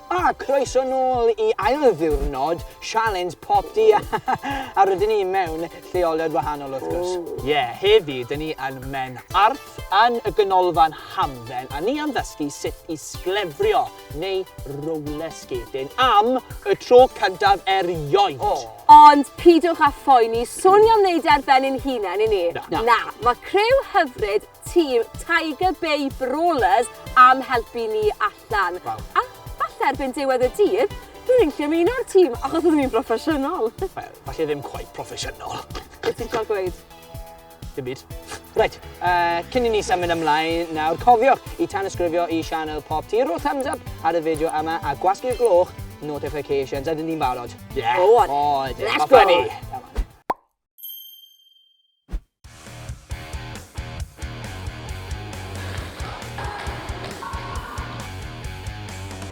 A croeso nôl i ail ddiwrnod Sialens Pop Di a rydyn ni mewn lleoliad wahanol wrth gwrs. Ie, heddi dyn ni yn Menarth yn y Ganolfan Hamdden a ni am ddysgu sut i sglefrio neu roller skating am y tro cyntaf erioed. O! Ond pidwch â phoeni, swn i am wneud e ar ben ein hunain, i ni? Na. Na. Na. Mae criw hyfryd tîm Tiger Bay Brawlers am helpu ni allan. Waw. A falle erbyn diwedd y dydd, bydd ni'n gallu ymuno'r tîm, achos byddwn ni'n broffesiynol. Wel, falle ddim cweit proffesiynol. Be ti'n trio gweud? Dim byd. Reit, uh, cyn i ni symud ymlaen nawr, cofiwch i tanysgrifio i sianel Pop Tea, rhoi thumbs up ar y fideo yma a gwasgu'r gloch notifications. Ydyn ni'n barod? Yeah. O, oh, oh, let's go! Ni.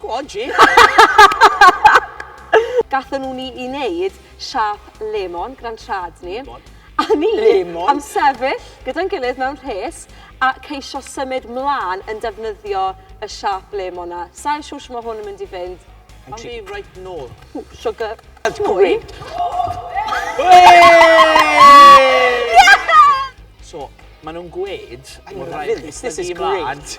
Go on Jake! Gathon nhw ni i neud siâp lemon gran trad ni. Lemon? A ni Lemon? am sefyll gyda'n gilydd mewn rhes a ceisio symud mlan yn defnyddio y siâp lemon 'na. Sai'n siŵr shwt ma' hwn yn mynd i fynd. Awn ni reit nôl. Ww, siwgr. That's great! Hei! So, ma' nhw'n gweud... I love this, this is great!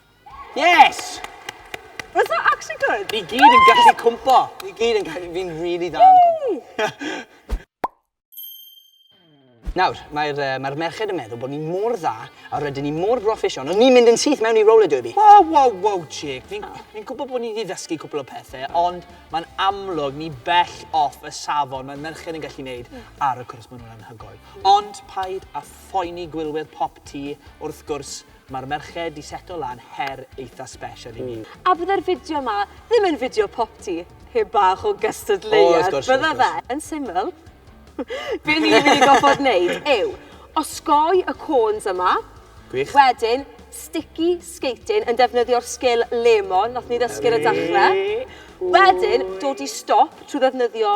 Yes! Was that actually good? Ni gyd yn gallu cwmpo. Ni gyd yn gallu... Fi'n really dda yn cwmpo. Nawr, mae'r uh, mae merched yn meddwl bod ni mor dda a rydyn ni mor broffesiwn, ond ni'n mynd yn syth mewn i roller derby. Wow, wow, wow, Jake. Fi'n fi gwybod bod ni wedi ddysgu cwpl o pethau, ond mae'n amlwg ni bell off y safon mae'r merched yn gallu gwneud ar y cwrs maen nhw'n anhygoel. Ond paid a phoeni gwylwyr pop ti, wrth gwrs, Mae'r merched di seto lan her eitha special i ni. A bydde'r fideo ma ddim yn fideo popty heb bach o gystadleuaeth, bydde fe? Yn syml, be ni'n mynd i gorfod neud yw osgoi y côns yma, wedyn sticky skating yn defnyddio'r sgil lemon nathon ni ddysgu ar y dechre, wedyn dod i stop trwy ddefnyddio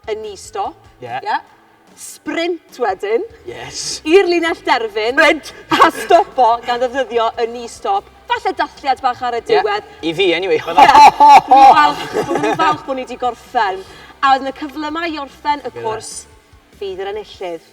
A knee stop. Ie. Ie. Sprint wedyn. Yes. I'r linell derfyn. Sprint! A stopo gan ddefnyddio y knee stop. Falle dathliad bach ar y diwedd. Ie, i fi anyway. Ie. Dwi'n falch, byddwn ni'n falch bod ni 'di gorffen. A oedd 'na cyflymau i orffen y cwrs? Ie. Fydd yr enillydd.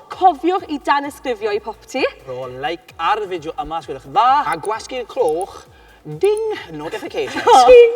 Cofiwch i danysgrifio i Popty. Rho like ar y fideo yma os gwelwch yn dda. A gwasgu'r cloch ding notifications. Ting!